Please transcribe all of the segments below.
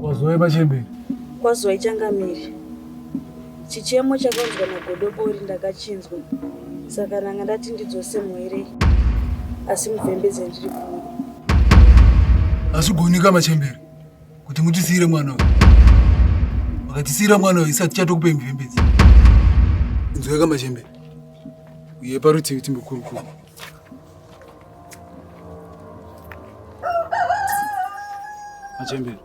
Wazoi pachembere? Wazoi changamire. Chichemo chakanzwa nagodobori ndakachinzwa saka nanga ndati ndidzose mwerei asi muvhembedze ndiri kuno. Hazvigonika machembere kuti mutisiire mwana uyu. Makatisiira mwana uyu isati chatokupai muvhembedze. Inzweka machembere. Uye parutivi timbokurukura. Achembere.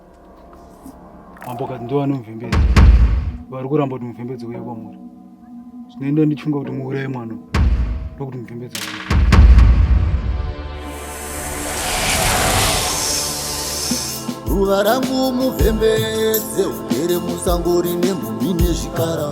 Mambo kati ndiwo anomvembedza. Vari kuramba kuti muvhembedzo uye kwamuri. Zvinoenda ndichunga kuti muuraye mwana. Ndokuti muvhembedzo uye. Ruva rangu muvhembedze ugere musango rine mhumhi nezvikara.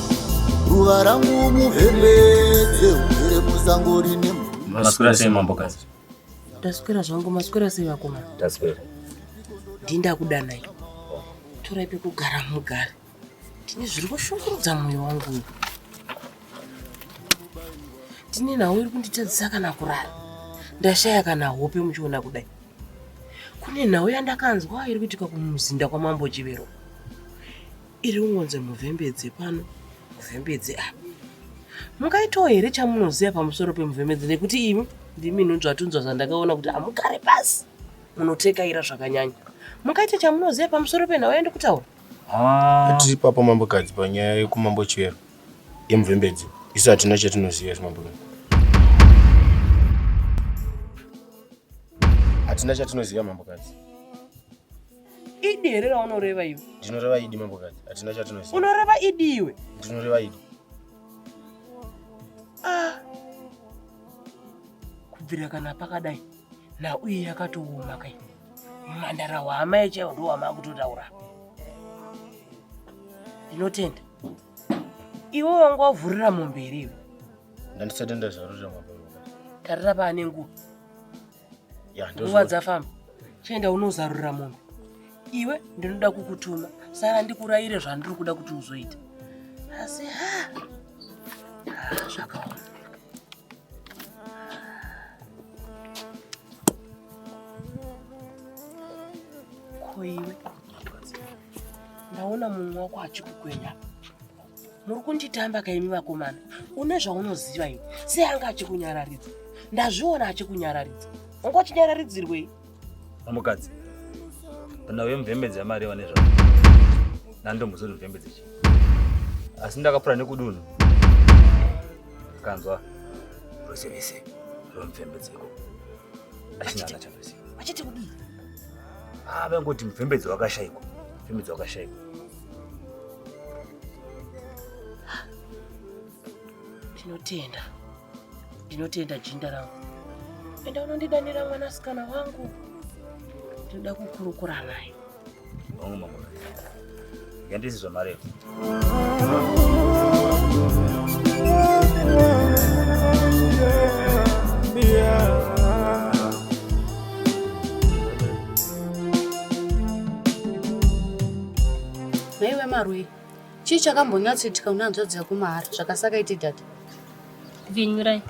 ruva rangu muhembe dzeugere musango rine maswera sei mambokazi ndaswera zvangu maswera sei vakomana ndaswera ndii ndakudanai torai pekugara mugare ndine zviri kushungurudza mwoyo wangu uyu ndine nhau iri kunditadzisa kana kurara ndashaya kana hope muchiona kudai kune nhau yandakanzwa iri kuitika kumuzinda kwamambo chivero iri kungonzi muvhembedze pano muvhembedze apa mungaitawo here chamunoziva pamusoro pemuvhembedze nekuti imi ndimi nunzvatunzwa zvandakaona kuti hamugare pasi munotekaira zvakanyanya mungaita chamunoziva pamusoro penhau yaende kutaura ah. tiri papa mambokadzi panyaya yekumambo chivero yemuvhembedze isu hatina chatinoziva isu mambokadzi hatina chatinoziva mambokadzi idi here raunoreva iwe ndinoreva idi mambokadzi hatina chatinoziva unoreva idi iwe ndinoreva idi ah. kubvira kana pakadai nauye yakatooma kai mhandara hwama yechaiwo ndo wama kutotaura ndinotenda iwe wanga wavhurira mombe here iwe ndandisatenda zvarurira mombe tarira paane nguva nguva dzafamba chienda unozarurira mombe iwe ndinoda kukutuma sara ndikurayire zvandiri kuda kuti uzoita asi ha zvakaoma ko iwe ndaona mumwe wako achikukwenya muri kunditamba kaimi vakomana une zvaunoziva iwe sei anga achikunyararidza ndazviona achikunyararidza anga uchinyararidzirwei amukadzi kana uye mvembedzi yamari eva nezvavo nandomuzoti mvembedzi chi asi ndakapura nekudunhu kanzwa rose vese romvembedzeko achina ana chavese achiti kudii ave ah, ngoti mvembedzi wakashaikwa mvembedzi wakashaikwa Ndinotenda, ndinotenda jinda rangu. Enda unondidanira mwanasikana wangu, ndinoda kukurukura naye. Hongu mambo, yandisi zvamareva. Naiwe Marwei, chii chakambonyatsoitika una hanzvadzi yako mahara zvakasakaiti dad? Vinyurai,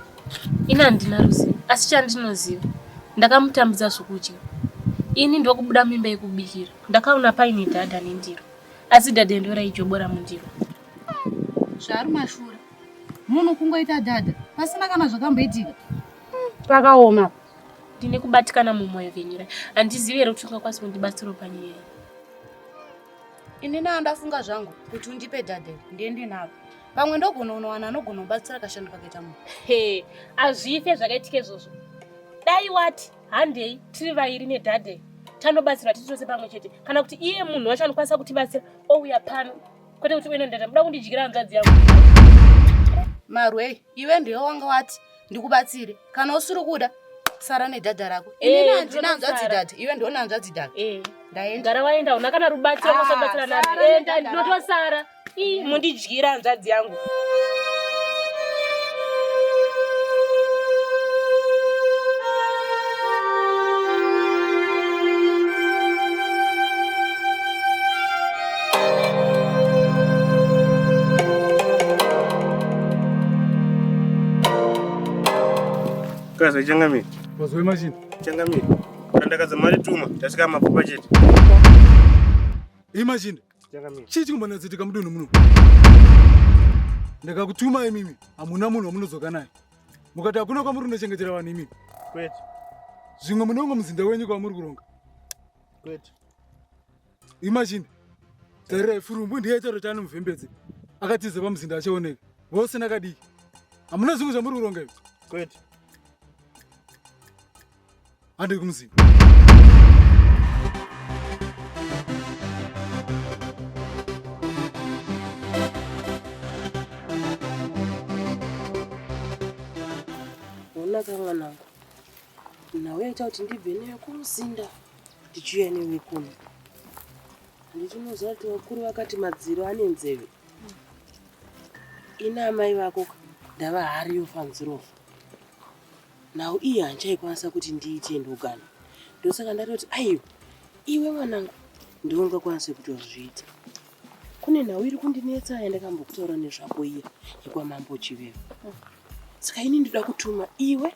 ini handina ruzivo, asi chandinoziva ndakamutambidza zvokudya. Ini ndokubuda mimba yekubikira, ndakaona paine dhadha nendiro, asi dhadha ndo raijobora mundiro. Zvaari mashura, munhu kungoita dhadha pasina kana zvakamboitika. Pakaoma. Ndine kubatikana mumoyo venyura. Handizivi here kuti ungakwanisa kundibatsirawo panyaya iyi. Ini naa ndafunga zvangu kuti undipe dadhe ndiende navo. Pamwe ndogona unowana anogona kubatsira kashando kakaita munhu. He, hazvife zvakaitika izvozvo. Dai wati handei tiri vairi nedadhe tanobatsirwa tiri tose pamwe chete kana kuti iye munhu wacho anokwanisa kutibatsira ouya pano kwete kuti uenendata muda kundidyira hanzvadzi yangu marwei iwe ndiwe wanga wati ndikubatsire kana usiri kuda sara nedhadha rako eh, inini handina hanzvadzi dhadha iwe ndione hanzvadzi dhadha eh. ndaendagara waenda una kana rubatsiro kwasabatsira ah, nani enda eh, ndinotosara mundidyira hanzvadzi yangu Kaza ichangamire. Wazwe machini. Ichangamire. Kandakaza mari tuma, tasika mapfupa chete. Imagine. Ichangamire. Chii chikumbonadzitika mudunhu muno? Ndakakutuma imimi, hamuna munhu wamunodzoka naye. Mukati hakuna kwamuri kunochengetera vanhu imimi. Kwete. Zvimwe munongo muzinda wenyu kwamuri kuronga. Kwete. imagine tere furumbu ndiye chero chani muvhembedzi akatiza pamuzinda achioneka vose nakadiki hamuna zvinhu zvamuri kuronga izvi kwete handiri kumuziva onaka mwanangu nhau yaita kuti ndibve newe kumuzinda Tichiuya newe kuno. Ndichinoziva kuti vakuru vakati madziro ane nzeve. Ina amai vako ndava hari yofanzirofa. Nhau iyi handichaikwanisa kuti ndiite ndogana. Ndosaka ndatoti aiwa iwe mwanangu ndiwe ungakwanise kutozviita. Kune nhau iri kundinetsa yandakambokutaura nezvako iya yekwamambo Chivero. Saka ini ndinoda kutuma iwe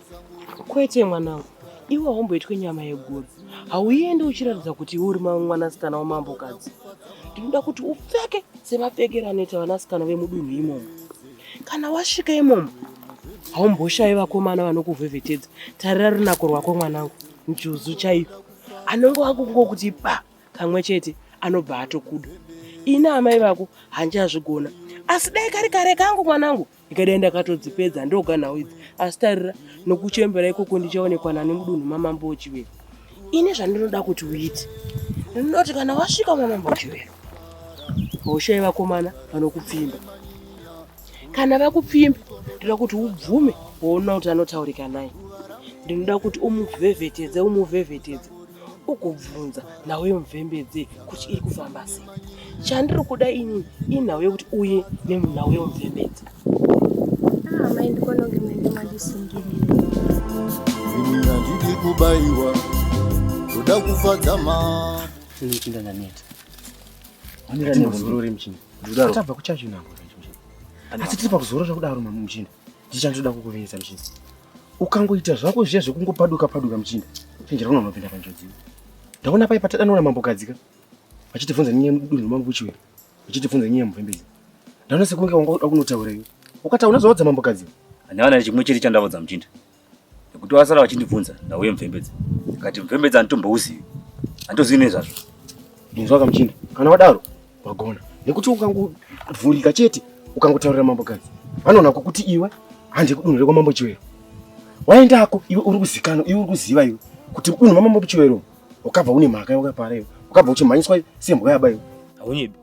kwete mwanangu iwe haumboitwe nyama yeguru hauende uchiratidza kuti iwe uri mwanasikana wamambokadzi ndinoda kuti upfeke semapfekero anoita vanasikana vemudunhu imomo kana wasvika imomo haumboshayi vakomana vanokuvhevhetedza tarira runako rwako mwanangu njuzu chaiyo anongo akungokuti pa kamwe chete anobva atokuda ini amai vako handichazvigona asi dai kari kare kangu mwanangu ka ndikadai ndakatodzipedza ndoga nhau idzi asi tarira nokuchembera ikoko ndichaonekwa nani mudunhu mamambo wechivero ini zvandinoda kuti uite ndinoti kana wasvika mamambo wechivero haushai vakomana vanokupfimba kana vakupfimba ndinoda kuti ubvume woona kuti anotaurika naye ndinoda kuti umuvhevhetedze umuvhevhetedze ugobvunza nhau yemuvhembedze kuti iri kufamba sei chandiri kuda ini inhau yekuti uye nenhau yemuvhembedze ah, amai ndikononge mende mandisungirira ndidi kubaiwa ndoda kufadza maachindandaneta aniraneururimchini tabva kuchacho nango asi tiri pakuzorora kudaro mamuchini Ndichandoda kukuviisa muchinda. Ukangoita zvako zviya zvekungopaduka paduka muchinda, chenjera unoona unopinda panjodzi. Ndaona pai patadanoona mambo kadzika vachitivhunza nyaya mudunhu mambo kuchiwe vachitivhunza nyaya muvhembezi. Ndaona sekunge wanga unotaura iwe. Ukataura unozoudza mambo kadzika. Handawana chimwe chete chandaudza muchinda. nekuti vasara vachindibvunza ndauye mvembedza kati mvembedza anditombohuzivi anditozivi nezvazvo inzwa kamuchinda kana wadaro wagona nekuti ukangovhurika chete ukangotaurira mambo kadzi vanoona kukuti iwe handi kudunhire kwamambo chiwero waendako iwe uri kuzikana iwe uri kuziva iwe kuti mudunhu mamambo chiwero ukabva une mhaka yawakapara iwe ukabva uchimhanyiswa sembwa yaba iwe haunyebi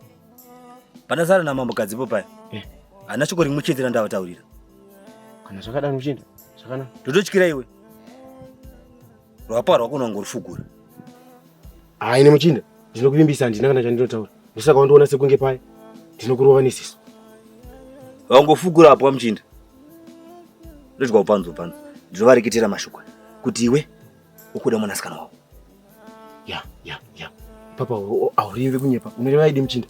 Pandasara namambo Gadzipo paya. Eh. Hana shoko rimwe chete randavataurira. Kana zvakadaro uchienda. Zvakanaka. Ndototyira iwe. Rwapa rwako unongorufugura. Ah, ine muchinda. Ndinokuvimbisa handina kana chandinotaura. Ndosaka wandiona sekunge paya. Ndinokurova nesiso. Wangofugura apo muchinda. Ndodya upanzo upanzo. Ndinovareketera mashoko kuti iwe ukuda mwanasikana wako. ya ya ya papa aurive kunyepa unoreva idi muchinda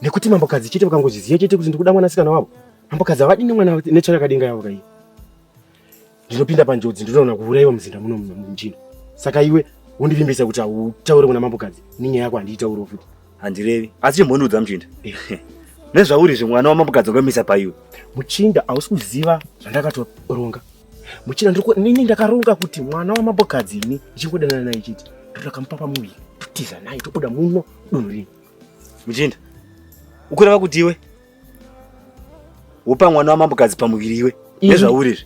nekuti mambokadzi chete vakangozviziva chete kuti ndikuda mwanasikana wavo mambokadzi havadini mwana netsvara yakadenga yavo kaiyi ndinopinda panjodzi ndinoona kuuraiwa muzinda muno muchinda saka iwe wondivimbisa kuti hautaure kuna mambokadzi nenyaya yako handiitauriwo futi handirevi asi chimbondiudza muchinda nezvauri izvi mwana wamambokadzi wakamisa paiwe muchinda hausi kuziva zvandakatoronga muchinda nini ndakaronga kuti mwana wamambokadzi ini ndichingodanana naye chete ndotakamupa pamuviri totiza naye tobuda muno dunhu rini muchinda ukureva kuti iwe wopa mwana wamambokadzi pamuviri iwe nezvauri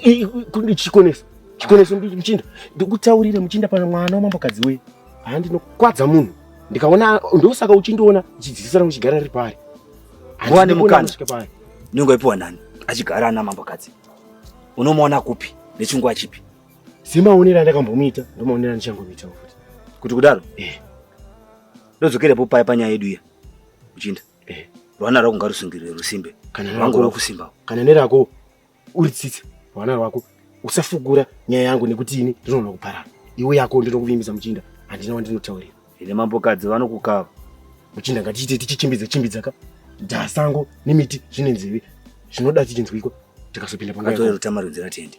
izvi kundichikonesa chikonesa muchinda ndikutaurire muchinda pana mwana wamambokadzi wee haa ndinokwadza munhu ndikaona ndosaka uchindiona chidzidzisana kuchigara riri paari wane mukana nyengo ipiwa nani achigara ana mambokadzi unomuona kupi nechingwa chipi semaonero andakambomuita ndomaonero andichangomuita futi kuti kudaro eh. ndodzokerepo paya panyaya yedu iya uchinda Eh, rwana rwako ngarusungirire rusimbe kana rwangu rwakusimba kana nerako uri tsitsi rwana rwako usafugura nyaya yangu nekuti ini ndinoona kuparara iwe yako ndinokuvimbisa muchinda handina wandinotaurira ine mambokadzi vanokukava muchinda ngatiite tichichimbidza chimbidza ka ndasango nemiti zvine nzeve zvinoda tichinzwiko tikazopinda pangaatoerutama runzira tiende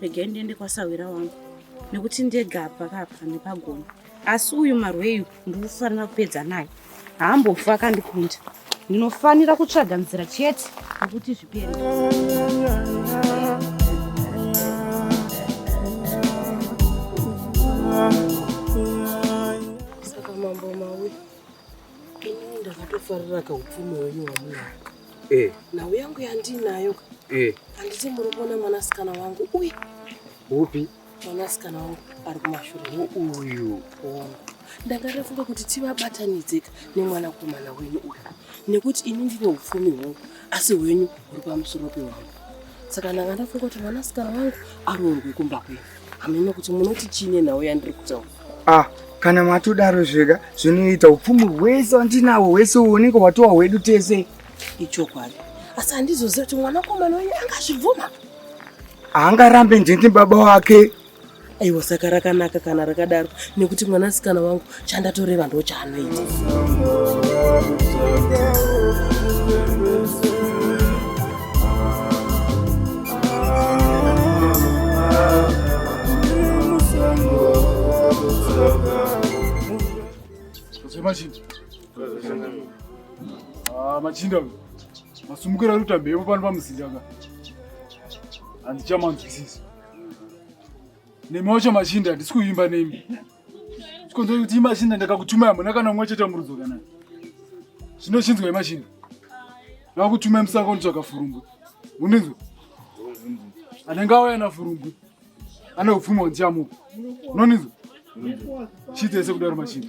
regai ndiende kwasahwira wangu nekuti ndega pakapa nepagona asi uyu marweyu ndikufanira kupedza naye haambofa akandikunda ndinofanira kutsvaga nzira chete nekuti zvipere saka mambo mawe ini ndakatofarira kaupfumi wenyu wamunaka eh. nhau yangu yandinayo eh. anditi muri kuona mwanasikana wangu uyu upi mwanasikana wangu ari kumashure uyu ndanga ndafunga kuti tivabatanidzeka nemwanakomana wenyu uyu nekuti ini ndine upfumi hwangu asi hwenyu huri pamusoro pehwangu saka ndanga ndafunga kuti mwanasikana wangu aroorwe kumba kwenyu Hameno kuti munoti chii nenhau yandiri kutaura. Ah, kana matodaro zvega zvinoita upfumi hwese wandinawo hwese uoneke watowa hwedu tese. Ichokwadi. Asi handizoziva kuti mwanakomana wenyu angazvibvuma. Haangarambe ndini baba wake. Aiwa saka rakanaka kana rakadaro nekuti mwanasikana wangu chandatoreva ndo chaanoita machinda ah, machinda masumukira ari kutambe yepo pano pamusindaka handichamanzwisisi nemi wacho machinda handisi kuimba nemi chikonzero kuti imachine ndakakutumai hamuna kana umwe chete murudzo kana zvino chinzwa imachine ndakakutumai musaka unitsvaka furumbu uninzwa anenge auya na furumbu ane upfumi hwandichamupa unoninzwa chitese kudaro machine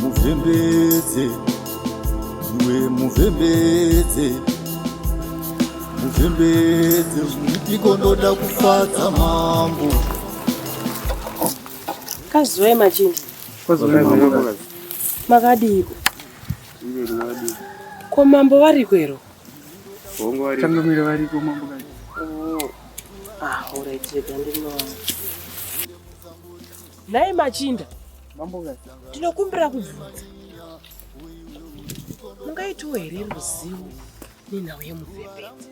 muvhembedze iwe muvhembedze muvhembedze ndiko ndoda kufadza mambo kazuve machinda makadiiko ko mambo variko ero tangamira variko mambo oh. ah, Nhai machinda, ndinokumbira kubvunza, mungaitiwo here ruzivo nenhau yemuvhembedzi?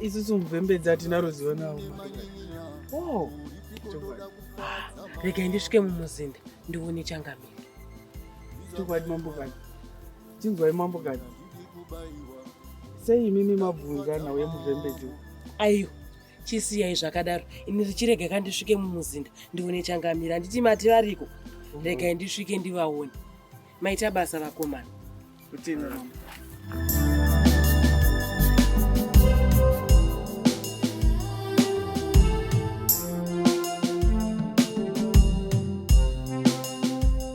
Isusu muvhembedzi hatina ruzivo nawo. Oh. Regai ndisvike mumuzinda ndione changamire. Chokwadi mambo vani. Chinzwai mambokadzi, sei imimi mabvunza nhau yemuvhembedzi? Aiwa, chisiyai zvakadaro, ini richirega kandisvike mumuzinda ndione changamira, handiti mati variko? Mm. Regai ndisvike ndivaone. Maita basa vakomana. Kutenda mama.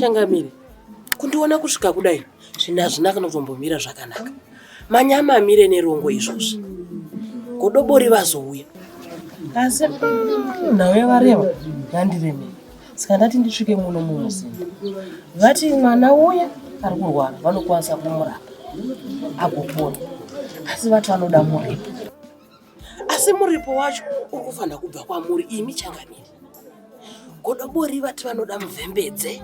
changamire kundiona kusvika kudai zvinhu hazvina kana kutombomira zvakanaka manyama amire nerongo izvozvi godobori vazouya asi nhau yavareva yandiremera saka ndati ndisvike muno mumuzinda vati mwana uya ari kurwara vanokwanisa kumurapa agopona asi vati vanoda muripo asi muripo wacho uri kufanira kubva kwamuri imi changamiri godobori vati vanoda muvhembedze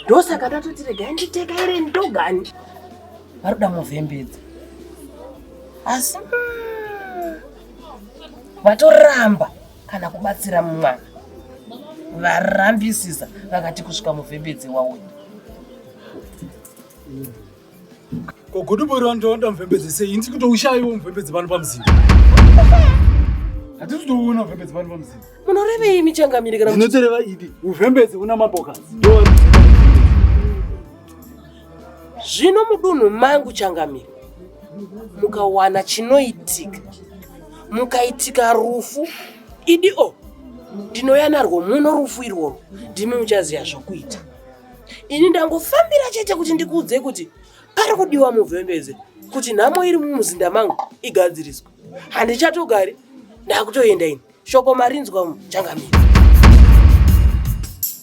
ndosaka ndatoti regai nditeka iri ndogani vanoda muvhembedze asi mm, vatoramba mm, kana kubatsira mwana varambisisa vakati kusvika muvhembedze wauya kogodoboriwa ndoda muvhembedze sei ini tikutoushaiwo muvhembedze pano pamuzinda hatisi kutoona uvhembedze pano pamuzinda munorevei michangamiri kana inotoreva idi uvhembedze una mambokasi zvino mudunhu mangu changamire mukawana chinoitika mukaitika rufu idi o ndinouya narwo muno rufu irworwo ndimi muchaziva zvokuita ini ndangofambira chete kuti ndikuudzei kuti pari kudiwa muvhembeze kuti nhamo iri mumuzinda mangu igadziriswe handichatogari ndakutoenda ini shoko marinzwa changamire